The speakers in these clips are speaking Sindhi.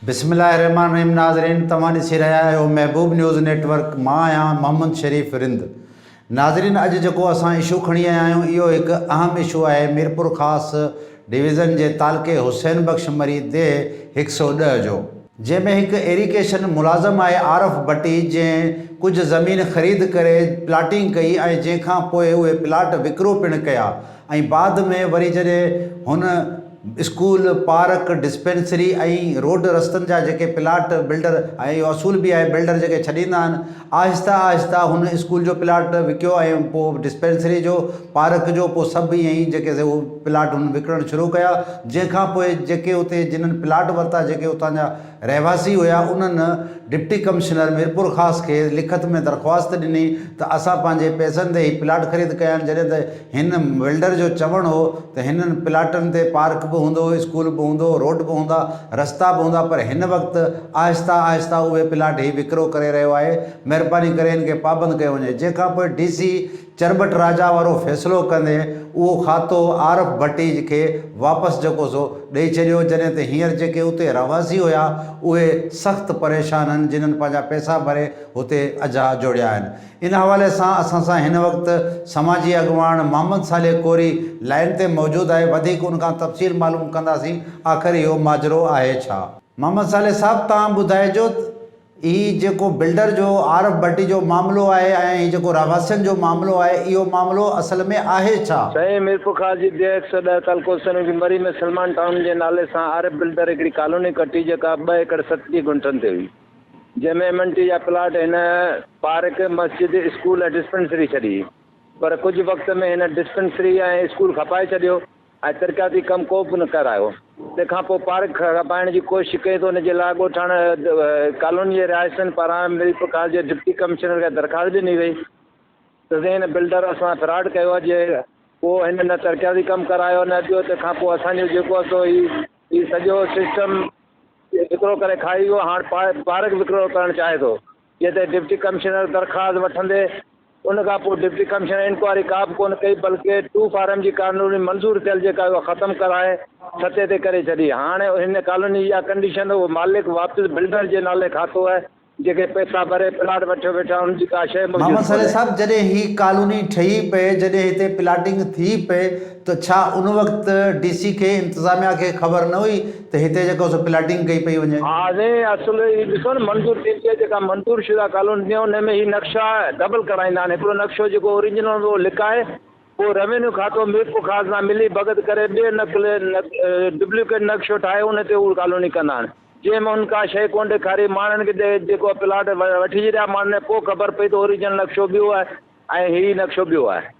بسم الله الرحمن الرحيم ناظرين توهان ڏسي رهيا آهيو محبوب نيوز نيٽ ورڪ مان آهيان محمد شريف رند ناظرين اڄ جيڪو اسان اشو کڻي آيا آهيون اهو هڪ اهم اشو آهي ميرپور خاص ڊويزن جي تعلقي حسين بخش مري ديهه هڪ سؤ ڏهه جو جنهن ۾ هڪ ايريڪيشن ملازم آهي عارف ڀٽي جنهن ڪجهه زمين خريد ڪري پلاٽنگ ڪئي ۽ جنهن کان پوء اهي پلاٽ وڪرو پڻ ڪيا. ۽ بعد ۾ وري جڏهن هن اسڪول، پارڪ، ڊسپينسري ۽ روڊ رستن جا جيڪي پلاٽ بلڊر ۽ اهو اصول به آهي بلڊر جيڪي ڇڏيندا آهن آهستي آهستي هن اسڪول جو پلاٽ وڪيو ۽ پوء ڊسپينسري جو، پارڪ جو پوء سڀ ائين ئي جيڪي سي اهي پلاٽ هن وڪڻڻ شروع ڪيا جنهن کان پوء جيڪي اتي جنن پلاٽ ورتا جيڪي اتان جا. رهواسي هيا انهن ڊپٽي ڪمشنر ميرپورخاص کي لکت ۾ درخواست ڏني ته اسان پنهنجي پئسن تي هي پلاٽ خريد ڪيا آهن جڏهن ته هن ولڊر جو چوڻ هو ته هنن پلاٽن تي پارڪ به هوندو اسڪول به هوندو روڊ به هوندا رستا به هوندا پر هن وقت آهسته آهسته اهي پلاٽ هي وڪرو ڪري رهيو آهي مهرباني ڪري هن کي پابند ڪيو وڃي جنهن کانپوء ڊي سي چرٻٽ راجا وارو فيصلو ڪندي اهو کاتو عارف ڀٽيج کي واپس جيڪو سو ڏئي ڇڏيو جڏهن ته هينئر جيڪي اتي رهواسي هيا اهي سخت پريشان هن جنهن پنهنجا پئسا ڀري هتي اجها جوڙيا آهن ان حوالي سان اسان سان هن وقت سماجي اڳواڻ محمد صالح ڪوري لائين تي موجود آهي وڌيڪ ان کان تفصيل معلوم ڪنداسين آخر اهو ماجرو آهي ڇا. محمد صالح صاحب توهان ٻڌائجو ته. هي جيڪو بلڊر جو عارف ڀٽي جو معاملو آهي ۽ هي جيڪو رهواسين جو معاملو آهي اهو معاملو اصل ۾ آهي ڇا؟ سائين ميرپورخاص جي ڊي هڪ سؤ ڏهه تعلقو سنوجي مري ۾ سلمان ٽائون جي نالي سان عارف بلڊر هڪڙي ڪالوني ڪٽي جيڪا ٻه ايڪڙ ستٽيهه گهنٽن تي هئي جنهن ۾ ايم اين ٽي جا پلاٽ هن پارڪ، مسجد، اسڪول ۽ ڊسپينسري ڇڏي پر ڪجهه وقت ۾ هن ڊسپينسري ۽ اسڪول کپائي ڇڏيو ۽ ترقياتي ڪم ڪو به نه ڪرايو. تنهن کان پوء پارڪ کپائڻ جي ڪوشش ڪئي ته ان جي لاء ڳوٺاڻن ڪالوني جي رهائشين پاران مير پرڪاش جي ڊپٽي ڪمشنر کي درخواست ڏني وئي ته سائين هن بلڊر اسان فراڊ ڪيو آهي جي ڪو هن نه ترقياتي ڪم ڪرايو نه ٻيو تنهن کان پوء اسان جو جيڪو آهي سو هي هي سڄو سسٽم وڪرو ڪري کائي ويو هاڻ پارڪ وڪرو ڪرڻ چاهي ٿو. جنهن تي ڊپٽي ڪمشنر درخواست وٺندي ان کان پوء ڊپٽي ڪمشنر انڪوائري ڪا به ڪونه ڪئي بلڪه ٽو فارم جي ڪالوني منظور ٿيل جيڪا اها ختم ڪرائي ستي تي ڪري ڇڏي هاڻ هن ڪالوني جي اها ڪنڊيشن اهو مالڪ واپس بلڊر جي نالي کاتو آهي جيڪي پئسا ڀري پلاٽ وٺيو ويٺا ان جي ڪا شيء محمد موجود صالح ڪونهي. صاحب جڏهن هي ڪالوني ٺهي پئي جڏهن هتي پلاٽنگ ٿي پئي ته ڇا ان وقت ڊي سي کي انتظاميا کي خبر نه هئي ته هتي جيڪو سو پلاٽنگ ڪئي پئي وڃي. ها سائين اصل هي ڏسو نه منظور ٿيندي آهي جيڪا منظور شده ڪالوني ٿيندي آهي ان ۾ هي نقشا ڊبل ڪرائيندا آهن هڪڙو نقشو جيڪو اوريجنل هوندو اهو لڪائي پوء روينيو کاتو ميرپور خاص سان ملي ڀڳت ڪري ٻيو نقل ڊبليڪيٽ نقشو ٺاهي ان تي هو ڪالوني ڪندا آهن جنهن ۾ هن ڪا شيء ڪونه ڏيکاري ماڻهن کي جيڪو پلاٽ وٺجي رهيا ماڻهن کي پوء خبر پئي ته اوريجنل نقشو ٻيو آهي ۽ هي نقشو ٻيو آهي.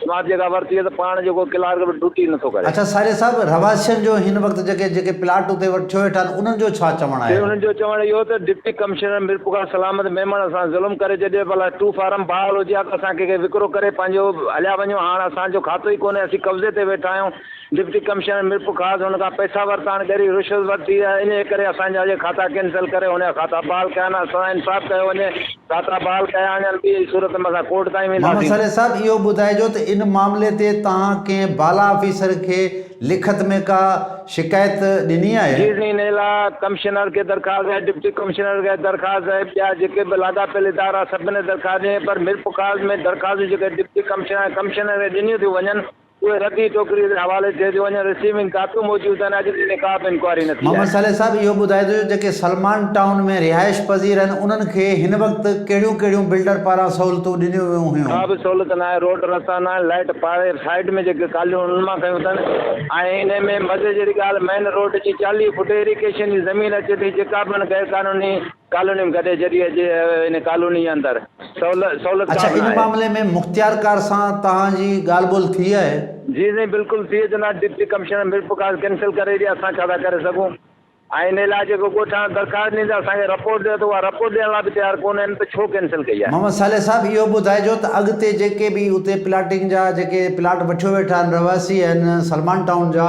سماٿ جيڪا ورتي هئي ته پاڻ جو ڪو ڪلارڪ به ڊوٽي نه ٿو ڪري. اڇا ساريا صاحب رهواسين جو هن وقت جيڪي جيڪي پلاٽ اتي وٺيو ويٺا آهن انهن جو ڇا چوڻ آهي؟ سر انهن جو چوڻ اهو ته ڊپٽي ڪمشنر ميرپورخاص سلامت ميمڻ سان ظلم ڪري ڇڏيو ڀلا ٽو فارم بحال هجي ها ته اسان کي ڪي وڪرو ڪري پنهنجو هليا وڃون هاڻ اسان جو کاتو ئي ڪونهي اسين قبضي تي ويٺا آهيون. ڊپٽي ڪمشنر ميرپورخاص ان کان پئسا ورتا آهن، ڳري رشوت ورتي آهي، انهيء ڪري اسان جا اهي کاتا ڪينسل ڪري انهيا کاتا بحال ڪيا آهن، سزا انصاف ڪيو وڃي، کاتا بحال ڪيا وڃن، ٻيء صورت ۾ اسان ڪورٽ تائين وينداسين. محمد سريع صاحب اهو ٻڌائجو ته ان معاملي تي توهان ڪنهن بالا آفيسر کي لکت ۾ ڪا شڪايت ڏني آهي؟ جي سائين انهيء لاء ڪمشنر کي درخواست ڏني آهي، ڊپٽي ڪمشنر کي درخواست آهي، ٻيا جيڪي به لاڳاپيل ادارا سڀني درخواست ڏني آهي، پر ميرپورخاص ۾ درخواستون جيڪي ڊپٽي ڪمشنر ۽ ڪمشنر کي ڏنيون ٿيون وڃن، اهي ردي ٽوڪري جي حوالي ٿئي ٿيون وڃن رسيونگ ڪاپيون موجود آهن اڄ تائين ڪا به انڪوائري نه ٿي آهي. محمد صالح صاحب اهو ٻڌائي ٿو جو جيڪي سلمان ٽائون ۾ رهائش پذير آهن انهن کي هن وقت ڪهڙيون ڪهڙيون بلڊر پاران سهولتون ڏنيون ويون هيون. ڪا به سهولت ناهي روڊ رستا ناهن لائيٽ پاري سائيڊ ۾ جيڪي ڪاليون انهن مان ڪيون اٿن ۽ انهي ۾ مزي جهڙي ڳالهه مين روڊ جي چاليهه فوٽ ايريڪيشن جي زمين اچي ٿي جيڪا به هن غيرقانوني ڪالوني ۾ گڏي جڏي اڄ ان ڪالوني اندر سهولت ڪا اڇا به ان ناهي. معاملي ۾ مختيارڪار سان توهان جي ڳالهه ٻولهه ٿي آهي؟ جي سائين بلڪل ٿي جناب deputy commissioner Mir Prakash cancel ڪري ڏي اسان ڇا ٿا ڪري سگهون ۽ ان لاء جيڪو ڳوٺاڻو درخواست ڏيندي اسان کي رپورٽ ڏيو ته اها رپورٽ ڏيڻ لاء به تيار ڪونه آهن ته ڇو ڪينسل ڪئي آهي. محمد صالح صاحب اهو ٻڌائجو ته اڳتي جيڪي به اتي پلاٽنگ جا جيڪي پلاٽ وٺيو ويٺا آهن رهواسي آهن سلمان ٽائون جا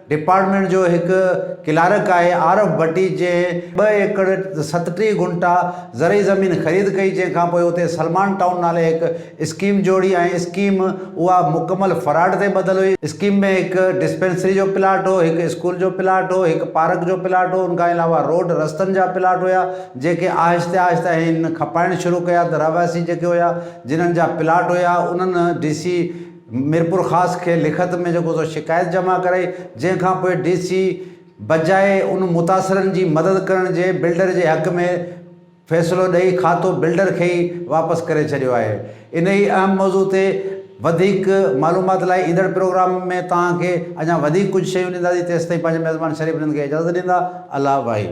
ڊپارٽمينٽ جو هڪ ڪلارڪ آهي عارف ڀٽي جنهن ٻه ايڪڙ ستٽيهه گهنٽا زرعي زمين خريد ڪئي جنهن کان پوء اتي سلمان ٽائون نالي هڪ اسڪيم جوڙي ۽ اسڪيم اها مڪمل فراڊ تي ٻڌل هئي، اسڪيم ۾ هڪ ڊسپينسري جو پلاٽ هو، هڪ اسڪول جو پلاٽ هو، هڪ پارڪ جو پلاٽ هو، ان کان علاوه روڊ رستن جا پلاٽ هيا جنهن کي آهستي آهستي هن کپائڻ شروع ڪيا ته رهواسي جيڪي هيا جنهن جا پلاٽ هيا انهن ڊي سي ميرپورخاص کي لکت ۾ جيڪو سو شڪايت جمع ڪرائي جنهن کانپوء ڊي سي بجاء ان متاثرن جي مدد ڪرڻ جي بلڊر جي حق ۾ فيصلو ڏئي کاتو بلڊر کي ئي واپس ڪري ڇڏيو آهي انهي اهم موضوع تي وڌيڪ معلومات لاء ايندڙ پروگرام ۾ توهان کي اڃا وڌيڪ ڪجهه شيون ڏينداسين تيستائين پنهنجي ميزبان شريف رند کي اجازت ڏيندا الله واحد.